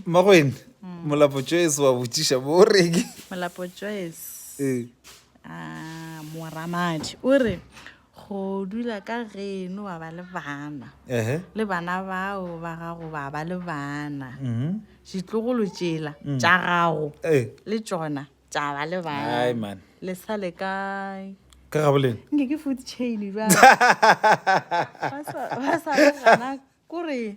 Mmagweng, Molapo Joyce wa botšiša mo o reng? Molapo Joyce. Ee. Ah, Moramadi o re go dula ka geno wa ba le bana. Ehe. Le bana bao ba gago ba ba le bana. Mhm. Ditlogolo tšela mm. tša gago. Ee. Le tšona tša ba le bana. Hai man. Le sa le kae? Ka gaboleng. Nke ke food chain ba. Ba sa ba sa gana kore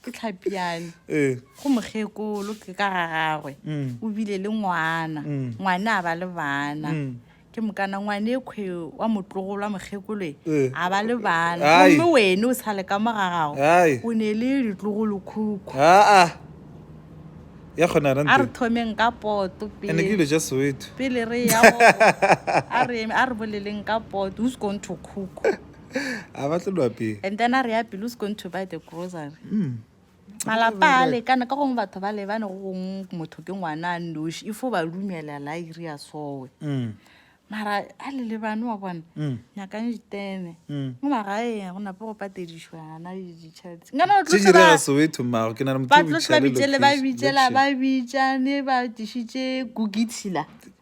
ke tlhapiane ee go mokgekolo ke ka ga gagwe Mm. o bile le ngwana Mm. ngwane a ba le bana Mm. ke mokana ngwane kgwe wa motlogolo wa mokgekoloe Eh. a ba le bana Ai. gomme wene o sale ka mo ga gago Ai. o ne le ditlogolo khukhu aa ya kgona a re rante thomeng ka poto ande ke pele dilo ja soweto pele re ya go- a re eme- a re boleleng ka poto who's going to cook a ba tlo nwa pele and then a re ya pele who's going to buy the grocery mm. malapa a lekana ka gongwe batho ba lebane go gongwe motho ke ngwana a noši ifo ba lumelela a iri ya sowe mm. mara a le lebane wa bona mm. nyakang diteme mm. mo magaeng go nape go patedišwana ditšheletsenganabatlotlabitšele ba bitšela ba bitšane ba dišitše kukitshila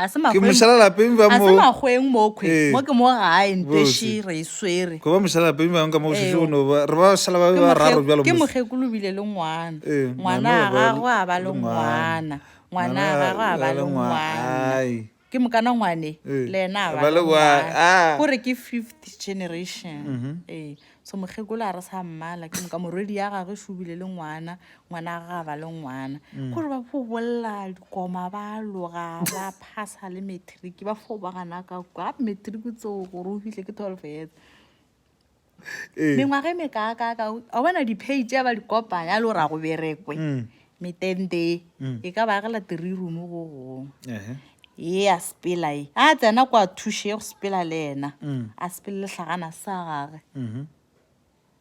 ga se ke mošalalapeng ba mo magweng mokgwe Ee. mo ke mo gae nteši re e swere go ba mošalalapeng bangwe ka mo go šetše Eo. go no ba re ba šala ba be ba raro bjalo ke mos- mokgekolo o bile le ngwana Ee, ngwana a ngwana gagwe a ba le ngwana ngwana a gagwe a ba le ngwana Ai. ke mokana ngwane Ee, le ena a ba le ngwana Ah. gore ke fifth generation ee so mokgekolo a re sa mmala ke moka morwedi ya gagwe e šobile le ngwana ngwana a ga ba le ngwana mm. kore ba fo bolela dikoma ba loga ba phasa le matric ba fo ba gana ka kwa matric tseo gore o fitlhe ke twelve years eh. mengwaga e mekaakaka a bona dipage ya ba dikopanya a le gore a go berekwe mm. metente e mm. e ka ba agela three room go gongwe ye ya sepela e a tsena kwa thuše ye go sepela le ena mm. a sepele letlhagana sa gage mm-hmm.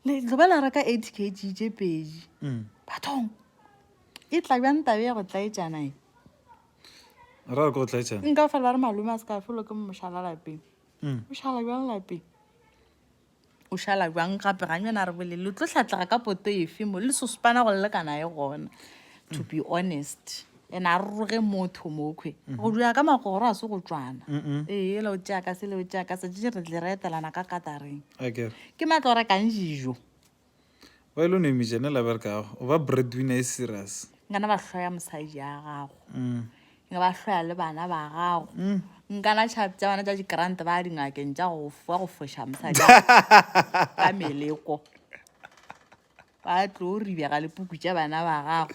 letloba la reka eight k g tše pedi mm. bathong e tla bjang tabe ya go tlaetsana e nka fela ba re malome a se ka felo ke mošala lapeng mošala bjang lapeng O šala bjang gape ga nyana re bolele lo tlo hlatlega ka poto efe mo le sospana go lekana e gona to be honest ene a roge motho mokhwe mm-hmm. go dula ka magoro a se go tswana ee le o tšea ka se le o tšea ka se tše re tle re etelana ka katareng ke matlo rekang dijo Why lo no imiša ne la bereka gago? O ba breadwinner e serious. Nka na ba hloya mosadi ya gago. Mm. Nka ba hloya le bana ba gago. Mm. Nka na tšhapi tsa bana tša dikrante ba dingakeng tša go fa go foša mosadi ka meleko. Ba tlo ribega lepuku tša bana ba gago.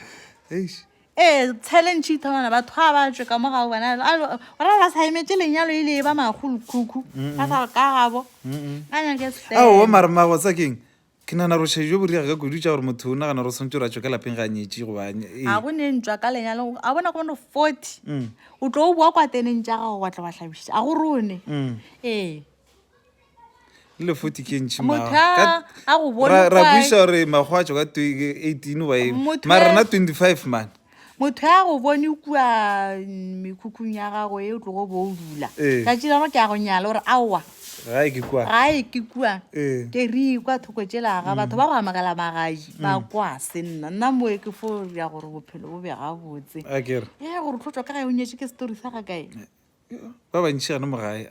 Eish. Ee, challenge e thomana batho ga ba tšwe ka mo ga o bona ora ba sa emetse lenyalo e le e ba magolokhukhu ba sa ka gabo a nyake sefela ao mare mago tsa keng ke nana rošhe jo boriga ka kudu tša gore motho o nagana gore swantse o ra tšwe ka lapeng ga a nyetše go bane ga go ne ntšwa ka lenyalo a bona go bone forty o tlo o boa kwa teneng tša gago wa tla wa hlabiša a go rone ee le 40 ke ntšhi motho a a go bone ra ra kwae. buisa gore makgwa a tšwa ka twe- ke 18 wa eng Motho mara ya- rena 25 mane motho ya go bone kua mm, mekhukhung ya gago e o tlogo bo o dula Ee. tšatši la gore ke ya go nyala gore aowa gae ke kwa gae ke kua Ee. ke re kwa thoko tšelaga batho ba go amogela magaji ba kwa se nna nna moe ke fo ya gore bophelo bo be gabotse a kere e gore tlhotswa ka gae o nyetše ke story sa ga kae ba bantšhi gane mo gae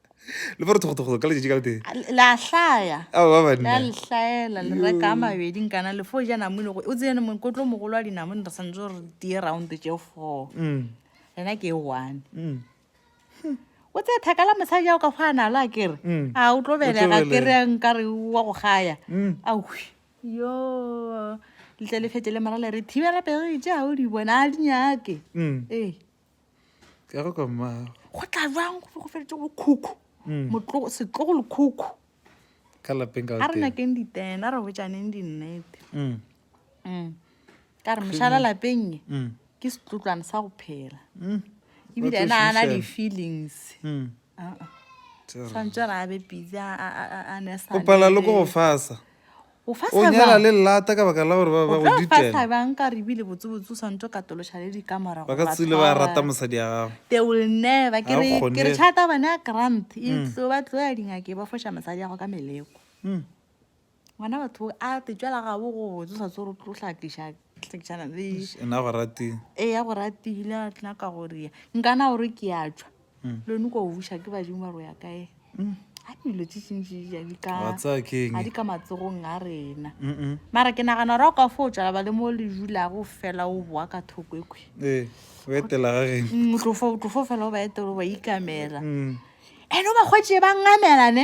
le ba re thogothogoto ka letšatši ka le tee la hlaya a ba ba la lehlaela le reka a mabedi nkana le fo ja namone go o tsene mokotlo mogolo wa dinamone re santse re tie round tše four mm. rena ke e one mm. hmm. o tse thaka la mosadi ao ka fa a nalo a kere mm. a o tlo belega kere nkare wa go gaya awi yo letle le fete le mara le re thibela pere tše ga o di bona a di nyake ee ke go ka mmago go tla jwang go go feditse go khukhu mm. motlogo setlogo le khukhu ka lapeng ka a re nyakeng ditena re botsaneng dinnete mm. mm. ka re mošala lapeng e mm. ke setlotlwane sa go phela mm. ebile ena a na di-feelings mm. uh -uh. tshwanetse re abe pisa a ne sa o pala le go go fasa O nyala le lata ka baka la gore ba ba go ditela. O tlo fahla bjang ka gore ebile botsebotse o swanetše o katološa le dikamora gore ba tshwarwe. Ba ka tsile ba rata mosadi ya gago. They will never. Ke re ke re chata bana ya grant e tlo ba tlo ya dingake ba foša mosadi ya go ka meleko. Ngwana batho a te tšwela ga bo go botse sa tsoro tlo hla tliša tlišana le. Ena go ratile. E ya go ratile a tla ka gore nkana gore ke ya tšwa. lone kwa o buša ke badimo ba roya kae a dilo tse tšintšitšaa di ka matsogong a rena mara ke nagana gore a ka fo o tswala ba le mo le dulago fela o boa ka thoko ekwe otlofo fela o ba etelo ba ikamela and o ba kgwetse ba ngamelane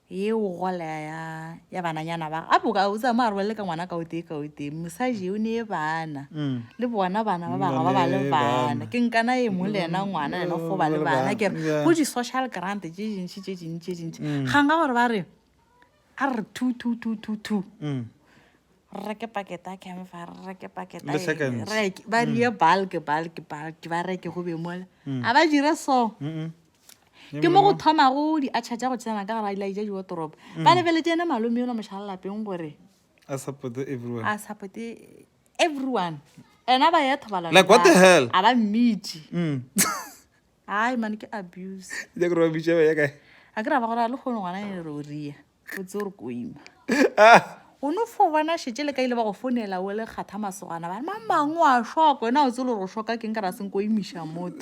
ye o gola ya ya bananyana ba a boka o tsaya mo a rwele ka ngwana ka o tee ka o tee mosaji o ne bana le bona bana ba bangwe ba ba le bana ke nkana e mo le ena ngwana ena go ba le bana ke re go di-social grant tse dintšhi tse dintšhi tse dintšhi gang ka gore ba re a re two two two two two re reke paketa camfa re reke paketa ba rie bulk bulk bulk ba reke go be mole a ba dire so ke mo go thomago diatšha tša go tsena ka gara dilaija diwatoropo mm. ba lebeletse ena malome yola mošalalapeng gore a supporte everyone a supporte everyone ena ba ya thobalano like what the hell a ba mmitši mm. ai mane ke abuse ja ke re ba bitša ba ya kae a ke ra ba gore a le kgone ngwana e re o ria o tse gore ko ima ah. o no fo bona šetse le ka ile ba go fonela o le kgatha masogana ba ma mangwe a shoko ena o tse le gore o shoka keng ka ra seng ko imiša motho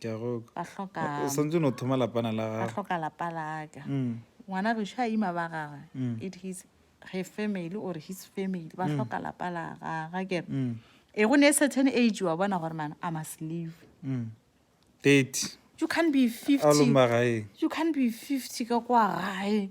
ke a go ba hloka o santse no thoma lapana la ga hloka lapa la ka mm. ngwana re sha ima ba ga mm. it his her family or his family ba mm. hloka lapa la ga ga ke mm. e go ne e certain age wa bona gore man i must leave mm. 30 you can't be 50 you can't be 50 ka kwa gae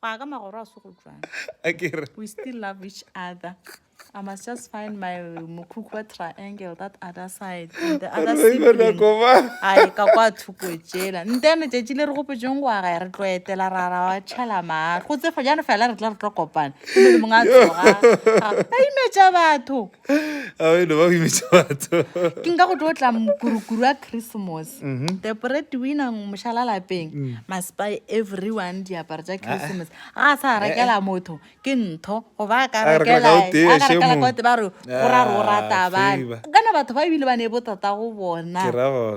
go ya ka magoro a se go jwang we still love each other I must just find my Mukukwa triangle, that other side, and the other sibling. Ai, ka kwa thuko tšela. Ntene tšetši le re go pejong go aga re tlo etela ra ra wa tšhela ma. Go tse fo jana fela re tla re tlo kopana. Ke le monga tsoga. Ai me tša batho. ke nka go tlo tla mokurukuru wa christmas mm-hmm. the bread winner mošala lapeng mm. must buy everyone diaparo tša christmas ga a sa eh, rekela eh. motho ke ntho goba a ka rekela kote ba re go ra ro rata bane kana batho ba ebile ba ne botata go bona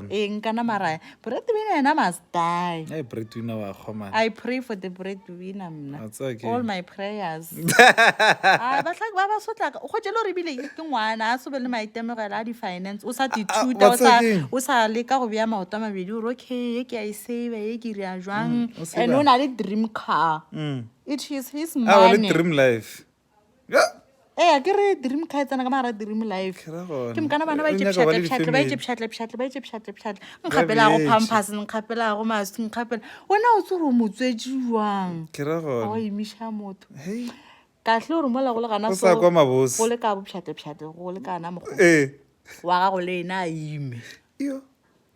eng kana maraya bread winner yena must Bye. Hey, breadwinner wa kgoma. I pray for the breadwinner mna. That's okay. All my prayers. Ah, ba tla ba ba sotla. Go jelo re bile ke ngwana, a sobe le maitemogelo a di finance. O sa di thuta, o sa o sa le ka go bea maoto a mabedi. O okay, ye ke a e save, ye ke ria jwang. And o na le dream car. Mm. It is his money. Ah, le dream life. ee ke re dream car e tsena ka magara dream life ke mokana bana ba itše pšhatlapšhatle ba itše pšhatlapšhatle ba itše pšhatlapšhatle nkgapelago pampers nkgapelago mask nkgapela wena o tse gore o motswetši jwang wa emiša motho kahle gore mola go le gana go le ka bopšhatlapšhatle go le kana mokgwa wa gago le ena a ime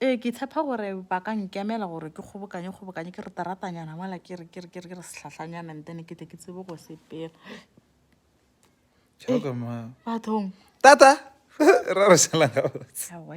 Ee, ke tshepa gore ba ka nkemela gore ke kgobokanye kgobokanye ke re teratanyana mola ke re ke re ke re ke re sehlahlanyana and then ke tle ke tsebe go sepela Tšhoka ma. bathong Tata! Ra re šala gabotse. Aowa,